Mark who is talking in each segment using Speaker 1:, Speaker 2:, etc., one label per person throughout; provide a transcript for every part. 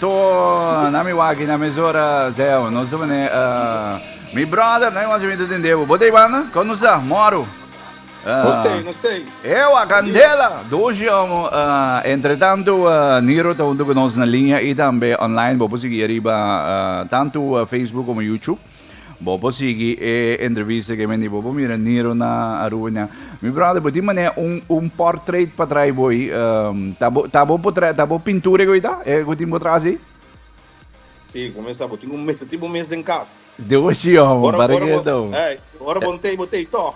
Speaker 1: To na mi wak i na mesora Zeo nos ta manera uh, Mi brother no hay mas evento den debo Bo ta hay banda? Kon nos ta? Moro Nos ta, nos ta Ewa candela Doshi amo uh, Entre tanto uh, Niro ta hunto cu nos na linea i tambe online Bo por sigui ariba uh, tanto uh, Facebook como YouTube Bo por sigui e entrevista ke men di bo por mira Niro na Aruba nan. Mi brother, bo tin manera un un portrait pa trae bo i. Um, ta bo ta bo por trae ta bo pintura ko ita? E ko tin bo trae si? Si, ku mesa bo tin un mesa ti bo mes den kas. De bo si om, Ora para ora ke bo, do. eh, ora bo ntei bo tei to.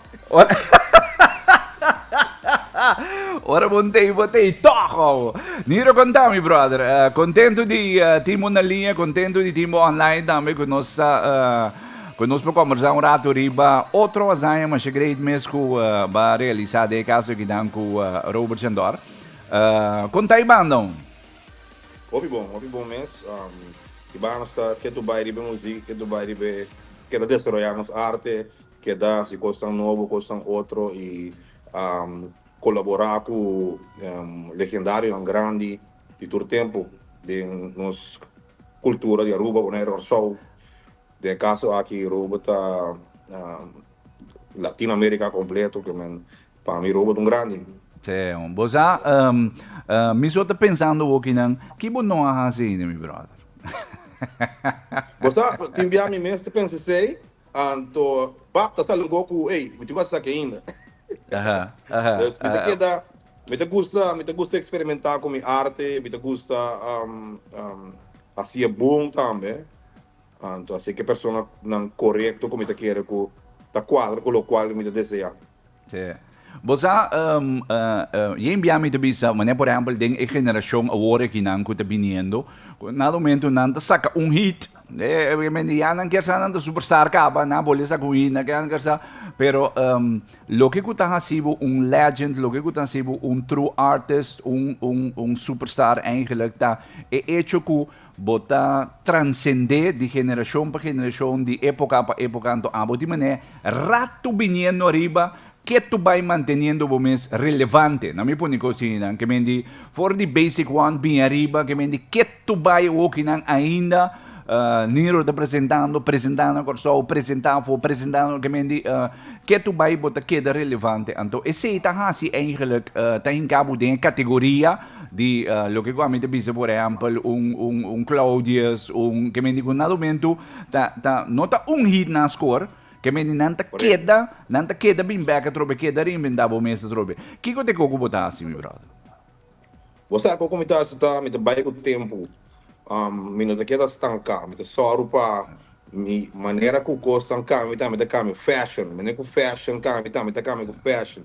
Speaker 1: Ora bo n'tei, bo tei tòg awo. Niro konta mi brother. Kontentu di tin bo na liña, kontentu di tin bo online tambe ku nos sa ku nos por kòmbersá un ratu riba otro hazaña masha great mes ku ba realisá den e kaso di kidan ku Robert Shandor. Kontai bandaun? Hopi bon, hopi bon mes. Kibanos ta ketu bai riba e musika, ketu bai riba e, keda desaroyá nos arte, Keda si kosnan nobo, kosnan otro y colabora cu legendarionan grandi di tur tempo den nos cultura di Aruba, Bonaire y Rorsou. Den e caso aki Aruba ta Latin America completo que men pa mi Aruba ta un grandi. Seo. Bo sa, mi so ta pensando hoki nan, ki bo no a haci ainda mi brother? Bo sa, tin bia mi mes ta pensa esey, Anto bap ta sali un poco cu ey, mi tin cu a saki ainda. Pues mi ta keda, mi ta gusta, mi ta gusta experimenta cu mi arte, mi ta gusta haci'e bon tambe. Anto haci'e cu e personanan corecto cu mi ta kere cu ta cuadra cu locual mi ta desea. Te. Bo sa, Jane Biami ta bisa, manera por ehempel den e generashon awor akinan ku ta biniendo, ku nan lumentu nan ta saka un hit, obviamente ya nan kier sa nan ta superstar kaba, nan a bole saka un hit, nan kier nan kier sa, pero loke ku ta hasi bo un legend, loke ku ta hasi bo un true artist, un superstar, eigenlijk ta e hecho ku Bo ta transcendé di generashon pa generashon, di époka pa époka, anto abo tin manera rato biniendo ariba, ke tu bai manteniendo bo mes relevante? Na mi pone cos hini nan, ke men di for di basic one bin ariba, ke men di ke tu bai hoki nan ainda Niro ta presentando, presenta na Kòrsou, presenta afo, presenta na, ke men di ke tu bai bo ta keda relevante. Anto esei ta hasi eigenlijk ta hinka bo den e kategoria. di loke ku ami ta bisa por ehèmpel un un un Claudius un ke mende ku na lumentu ta ta no ta un hit na skor ke mende nan ta keda nan ta keda bin bèk atrobe keda reinventá bo mes atrobe kiko te ko ku bo ta hasi mi brother. Bo sa ko ku mi ta hasi ta mi ta bai ku tempu mi no ta keda stanká mi ta sòru pa mi manera ku kos tan kami mi ta kami fashon manera ku fashon kami mi ta kami fashon.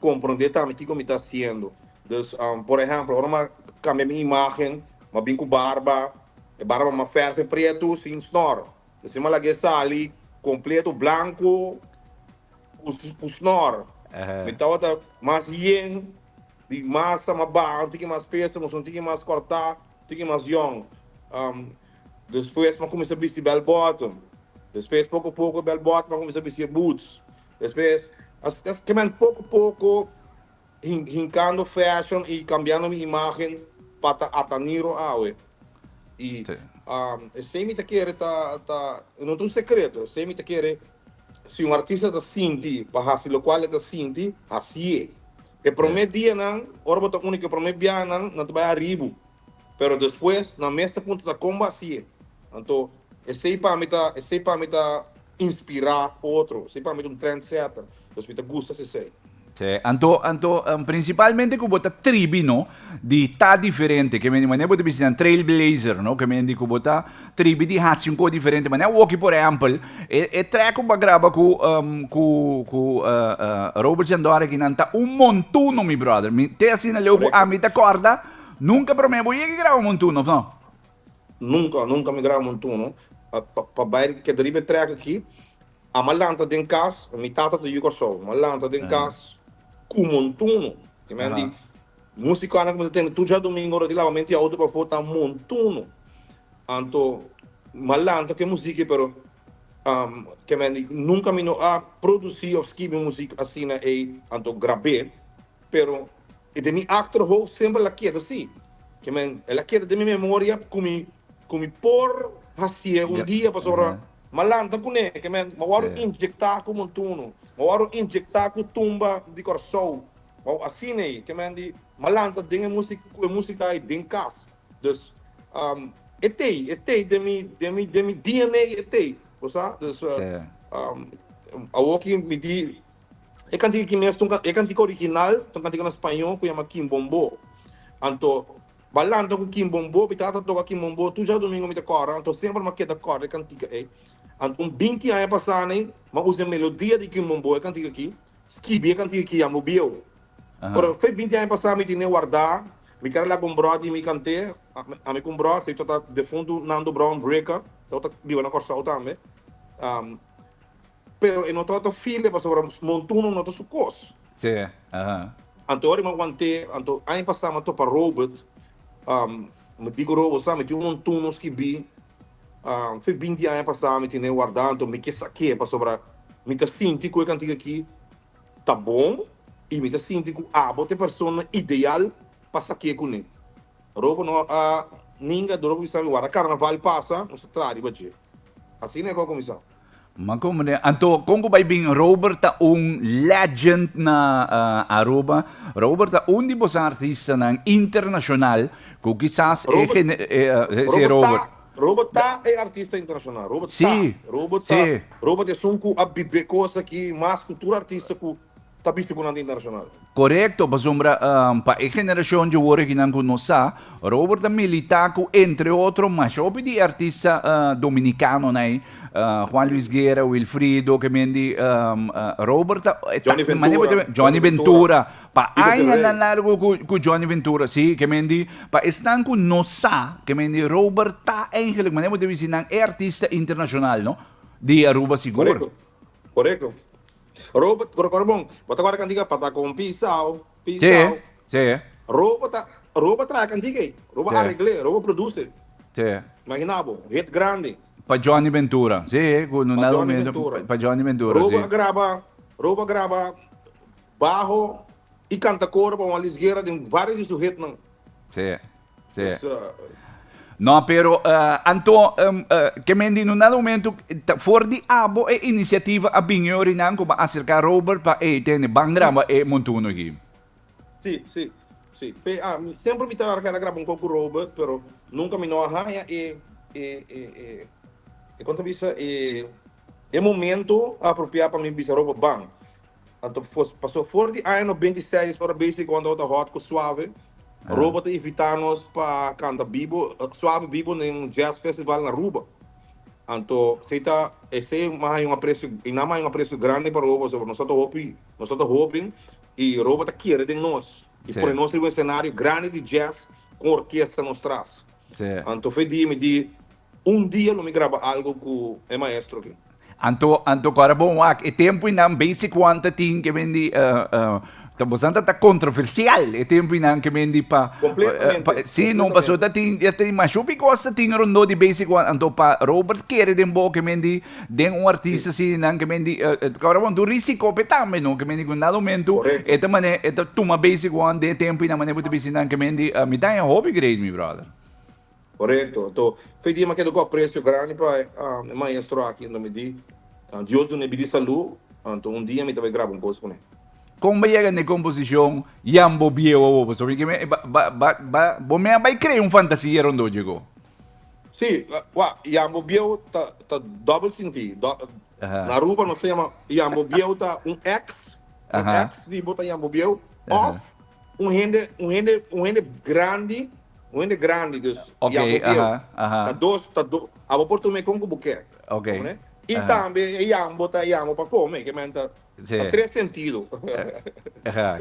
Speaker 1: Comprende tambe kico mi ta haciendo. Dus, por ehemplo, ora mi cambia mi imagen, mi bin cu barba, e barba mi a ferfe prieto sin snor. Asina mi a laga e sali completo blanco cu snor. Mi tabata mas yen, di masa mas baha, tin ki mas pesa, mosun tin ki mas corta, tin ki mas yong. Despues mi a cuminsa bisti bell bottom. Despues poco poco e bell bottom a cuminsa bisti e boots. Despues a skeman poko poko hinkando fashion y cambiando mi imagen pa ta ataniro awe. Y esey mi ta kere ta ta no ta un secreto, esey mi ta kere si un artista ta sinti pa haci locual e ta sinti hacié. E prome dianan ora bo ta uni cu e prome biahanan nan ta bay aribu Pero despues nan mes ta puntra ta kon bo hasié. Anto esei pa mi ta esei pa mi ta inspirá otro, esei pa mi ta un trendsetter, pues mi ta gusta sesei. Sè, anto anto principalmente ku bo ta tribi no di ta diferente, ke mende manera bo ta bisa nan trailblazer no, ke mende ku bo ta tribi di hasi un kos diferente manera Woki por ehempel e e track ku bo a graba ku ku ku Robert Sandor aki nan ta un montuno mi brother, mi te asina leu ku ami ta kòrda. Nunca prome bo yega graba Montuno of no? Nunca, nunca mi graba Montuno. Pa bai riba keda riba e trek aki, ama lanta den cas, mi tata ta yu Corsou, ama lanta den cas cu Montuno. Ki'e men di musico anan cu mi ta tende tur djadomingo ora di labamento di auto pafo ta Montuno. Anto m'a lanta cu e musica pero ki'e men di nunca mi no a produci of scribi music asina ey anto grab'e. Pero e den mi achterhoofd semper el a keda si. Ke men, el a keda den mi memoria ku mi ku mi por hasié un dia pasobra m'a lanta kuné, ke men, m'a wòrdu injektá ku montuno, m'a wòrdu injektá ku tumba di Kòrsou, wou, asina ei, ke men, di m'a lanta den e musika ku e musika ei den kas. Dus, e t'ei, e t'ei den mi den mi den mi DNA, e t'ei, ku sa? Dus, awoki mi di. E kantika aki mes ta e kantika original, ta un kantika na spañó ku yama Kimbombó. Anto ba lanta ku Kimbombó, mi tata ta toka Kimbombó tur djadumingu mi ta kòrda, anto semper m'a keda kòrda e kantika ei. Ant un binti aña pasá nei, m'a usa e melodia di Kimbombó, e kantika aki, skibi e kantika aki ya mubieu. Pero fe binti aña pasá mi tene wardá, mi keda laga un brò di mi kant'é, ami ku un brò, esei tata defuntu Nando Brown Breaker, e otro ta biba na Kòrsou tambe. Pero e no ta ta file pasobra montunan no ta su kos. Sí, aha. Anto ora mi a want'é, anto aña pasá mi a topa Robert, mi di ku Robert, sa, mi tin un montun nos kibí, fe binti aña pasá mi tin'é wardá, anto mi ke sak'é pasobra mi ta sinti ku e kantik akí ta bon i mi ta sinti ku abo ta e persona ideal pa sak'é kuné. Robert no a ninga dor ora ku mi sa mi warda karnaval pasa, nos ta traha riba dje. Asina e kos a kuminsá. Ma con meneer, anto con cu bay bin Robert ta un legend na uh, Aruba. Robert ta un di bos artistanan internacional cu quizás e Robert- gene- e, uh, e- si Robert. ta, Robert ta e artista internacional. Robert Sí, ta. Robert sí. ta. Robert esun cu a bibe cosa aki mas cu tur artista cu ta bisti ku nan di internashonal. Korekto, pasobra pa e generashon dje wor aki nan ku no sa, Robert a militá ku entre otro masha hopi di e artista dominikanonan ei, Juan Luis Guerra, Wilfrido, ke men di Robert a Johnny Ventura, Johnny Ventura, pa añanan largu ku Johnny Ventura, si, ke men di pa esnan ku no sa, ke men di Robert ta eingelik mane bo ta bisti nan e artista internashonal no di Aruba sigur. Korekto, korekto. Robert kura kura bon. Bo ta kòrda kantika pa ta kon pisao, pisao. Sí, sí. Robo ta, robo traha kantika ei. Robo Sí. aregl'é, robo produse. Sí. Imagina bo, un hit grandi. Pa Johnny Ventura. Sí, ku no Pa nada Johnny humilde. Ventura. Pa Johnny Ventura, Robo sí. a graba, Robo a graba baho i kanta koro pa Juan Luis Guerra den vários di su hitnan. Sí. No, pero uh, anto, um, uh, que mendi no na momento, for di abo e iniciativa a bin orinan como acerca Robert pa e tene ban graba e montuno aquí. Sí, sí, sí. Pe, ah, siempre mi tan arca graba un coco Robert, pero nunca mi no haya e, e, e, e, e, conta bisa, e, e momento apropiado para mi bisa Robert ban. Anto paso for di aña no binti seis ora besi con ota hot cu Suave Robo ta invita nos pa canta bibo Suave bibo na un jazz festival na Aruba. Anto esey ta esey mas hay un aprecio y nan mas hay un aprecio grandi pa Robo so nos ota hopi nos ota hopi y Robo ta kere den nos y pone nos riba un escenario grandi di jazz con orkesta nos tras. Anto fe di mi di Un dia lo mi graba algo cu e maestro aki. Anto, anto cora bon wak e tempuinan base cuanta tin ke men di ta bosan ta ta controversial e tempuinan ke men di pa Completamente, si no paso ta tin ta tin masho ki cos ta tin rondó di base cuan anto pa Robert kere den bo ke men di den un artista asina nan ke men di cora bon do risico pe tambe no ke men di cu nan momento e ta mane e ta tuma base cuan den e tempuinan mane bo ta bisti nan ke men di mi ta e hobby great mi brother. Korekto. Anto, fe di e makedo ku apresio grandi pa e maestro aki. Anto mi di, Dios dun'é bidí salú. Anto, un dia mi ta bai graba un kos kuné. Kon bo a yega n'e komposishon Yan bo biehu awor? Pasobra mi keme, ba, bo mi a bai krea un fantasia rondó dje go. Sí, wak, Yan bo biehu ta, ta dòbel sintí. Na Aruba nos ta yama Yan bo biehu ta un èks, un èks di bo ta Yan bo biehu òf un hende, un hende, un hende grandi Un hende grandi dus y abo bieu. Ta dos, ta dos. Abo por tuma e con cu bo kier. Comprende? Y tambe e yamu bo ta yamu pa come. Ke men ta tres sentido.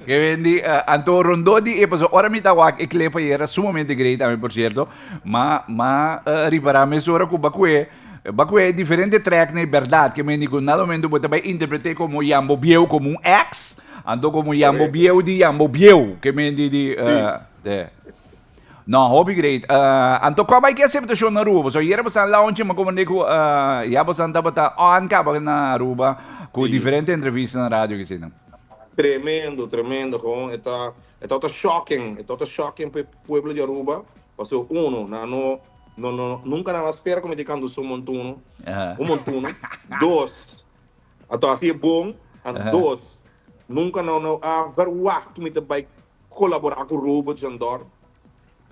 Speaker 1: Ke men di, anto rondó di e paso. Ora mi ta wak e clip ayer, ta sumamente grei tambe por cierto. Ma, ma ripará mesora cu ba cue, ba cue diferente track na e berdad. Ke men di cu nada momento bo ta bay interpret'é como yamu bo bieu, como un ex. Anto como yamu bo bieu di yamu bo bieu. Ke men di di. Te. No, hopi great. Uh, anto kua bai ki aceptacion na Aruba? Boso yera bosan lao un chima komende ku uh, ya bosan tabata on kaba na Aruba ku diferente entrevista na radio ki sina. Tremendo, tremendo, gewoon e ta e ta ta shocking, e ta ta shocking pe pueblo di Aruba, paso uno nan no no no nunca nan a spera komende kantu so montuno, un montuno, dos a ta hasi e bon, an dos nunca nan no a verwacht ku mi ta bai Colaborá cu Robo Jandor.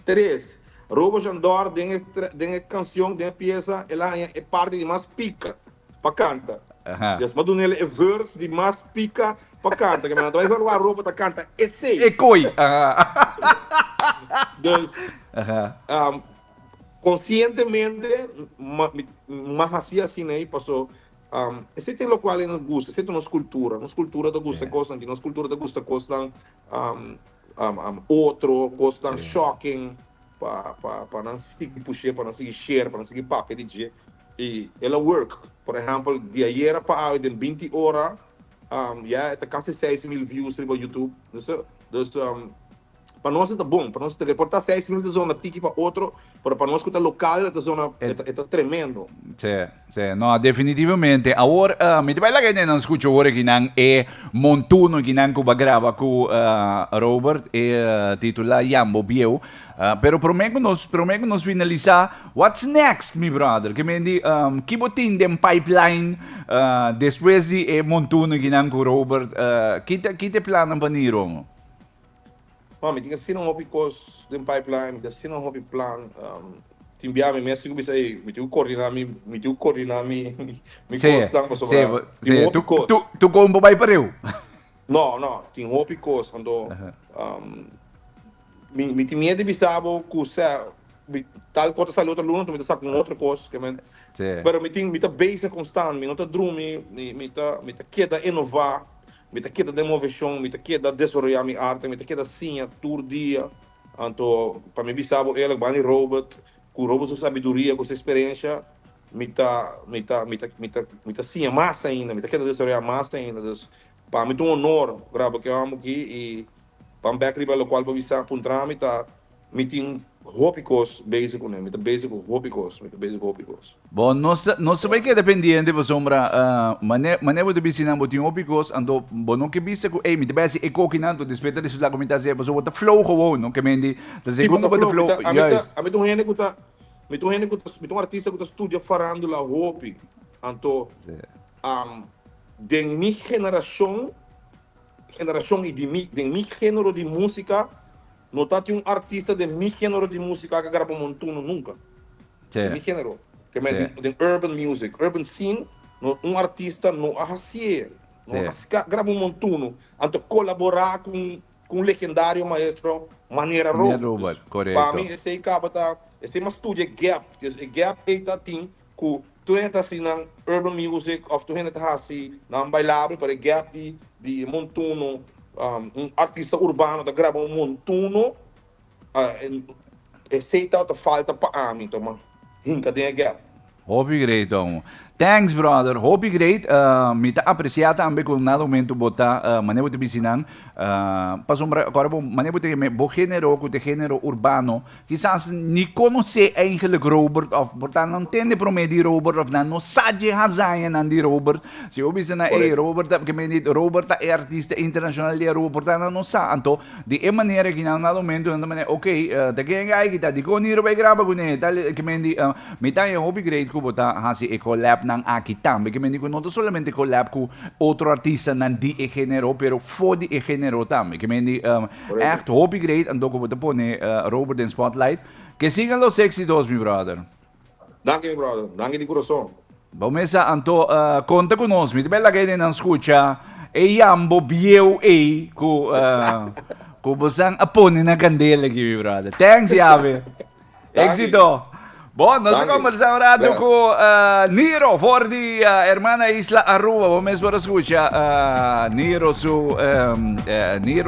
Speaker 1: Tres, Robo Jandor den e den e cancion, den e pieza, el a haña e parti di mas pica pa canta. Yes, m'a dun'el e verse di mas pica pa canta. Kico nan ta bay evaluá Robo ta canta esey? Ecoy! Dus, conscientemente m'a haci asin'ey paso esey ta locual nos gusta, esey ta nos cultura. Nos cultura ta gusta e cosnan aki, nos cultura ta gusta cosnan otro cosnan shocking pa nan sigui push'é, pa nan sigui share, pa nan sigui papia di dje y el a work. Por ehempel di ayera pa awe den binti ora ya e ta casi seis mil views riba YouTube. Entonces, pa nos esta bon, pa nos ta reporta seis mil ta zona tiki pa otro Pero pa nos cu ta local e ta zona e ta tremendo. Sí, sí. No, definitivamente. Awor, uh, mi te bai laga ene nan scucho awor aquí nan e montuno aquí nan cuba graba cu uh, Robert e uh, titula Jambo Bieu. Uh, pero prome cu nos, prome cu nos finalisa, what's next, mi brother? Que me di, um, kibo tin den pipeline uh, después di e montuno aquí nan cu Robert, uh, kite, kite plannen pa niro? Ma mi tin asina un hopi cos den pipeline, mi tin asina un hopi plan. Tin bia mi, mi a sigue bisa ey, mi tin cu coordina mi, mi tin cu coordina mi cosnan pasobra tin un hopi cos. Sí, sí, tu combo bay pa riu. No, no, tin un hopi cos, anto mi tin mier di bisa bo cu sea, tal cos ta sali otro luna, anto mi ta saca un otro cos, ke men. Pero mi tin, mi ta beza constant, mi no ta drumi, mi ta keda inova. Mi ta keda den moveshon, mi ta keda desaroyá mi arte, mi ta keda siña tur dia. Anto, pa mi bisa bo eerlijk, Bani Robert, ku Robert su sabiduria, ku su eksperensha, mi ta mi ta mi ta mi ta mi ta siña mas ainda, mi ta keda desaroyá mas ainda. Dus, pa mi ta un honor graba ke hòmber aki i pam bèk riba lokual pa bisa puntra mi ta Mi tin hopi kos bezi ku nan. Mi ta bezi ku hopi kos. Mi ta bezi ku hopi kos. Bo no sta, no sta bai keda pendiente pasobra mane, mane bo ta bisti nan bo tin hopi kos anto bo no ke bisa ku ey mi ta bai hasi e kokinan anto despues mi ta resulta ku mi ta hasi e pasobra bo ta flow gewoon no ke mende ta segun ku bo ta flow. Si bo ta flow. Mi ta, ami ta, ami ta un hende ku ta, mi ta un hende ku ta, mi ta un artista ku ta studia farandula hopi anto den mi generashon, generashon i di mi, den mi genero di musika No ta tin un artista den mi genero di musika ke graba montuno nunka. Den mi genero, ke men di den urban music, urban scene, no un artista no a hasié, no a ska graba un montuno, anto kolaborá ku un legendario maestro manera Robert. Pami esei kaba ta, esei mas studia e gap, e gap ei ta tin cu tur hende ta haci nan urban music of tur hende ta haci nan bailable pasobra e gap di di e montuno un artista urbano ta graba un montuno esey ta ta falta pa ami to ma hinca den e gap. Hopi great amo. Thanks brother. Hopi great. Mi ta aprecia tambe cu na momento bo ta mane bo ta bisti nan pasobra acorda bo mane bo ta yam'e bo genero cu ta e genero urbano. Kisas ni konosé eigenlik Robert òf por ta nan tende promé di Robert òf nan no sa dje hazañanan di Robert. Si bo bisa nan, ey, Robert ta, ke men di, Robert ta e artista internashonal di Aruba, por ta nan no sa. Anto, di e manera ki nan na lumentu nan ta manera, ok, ta ken gai ki ta, dikon di Aruba e graba ku ne? Tal, ke men di, mi ta e hopi great ku bo ta hasi e collab nan aki tambe. Ke men di ku no ta solamente collab ku otro artistanan di e género, pero for di e género tambe. Ke men di, Echt hopi great anto cu bo ta pone Robert den spotlight. Que sigan los exitos mi brother. Danki mi brother, danki di curason. Bo mesa anto conta cu nos. Mi ta bel laga e nenan scucha e yambo bieu ey cu cu bosan a pone na candela aki mi brother. Thanks Yave. Exito. Bo nos a conversa un rato cu Niro for di hermana isla Aruba. Bo mes por a scucha Niro su Niro.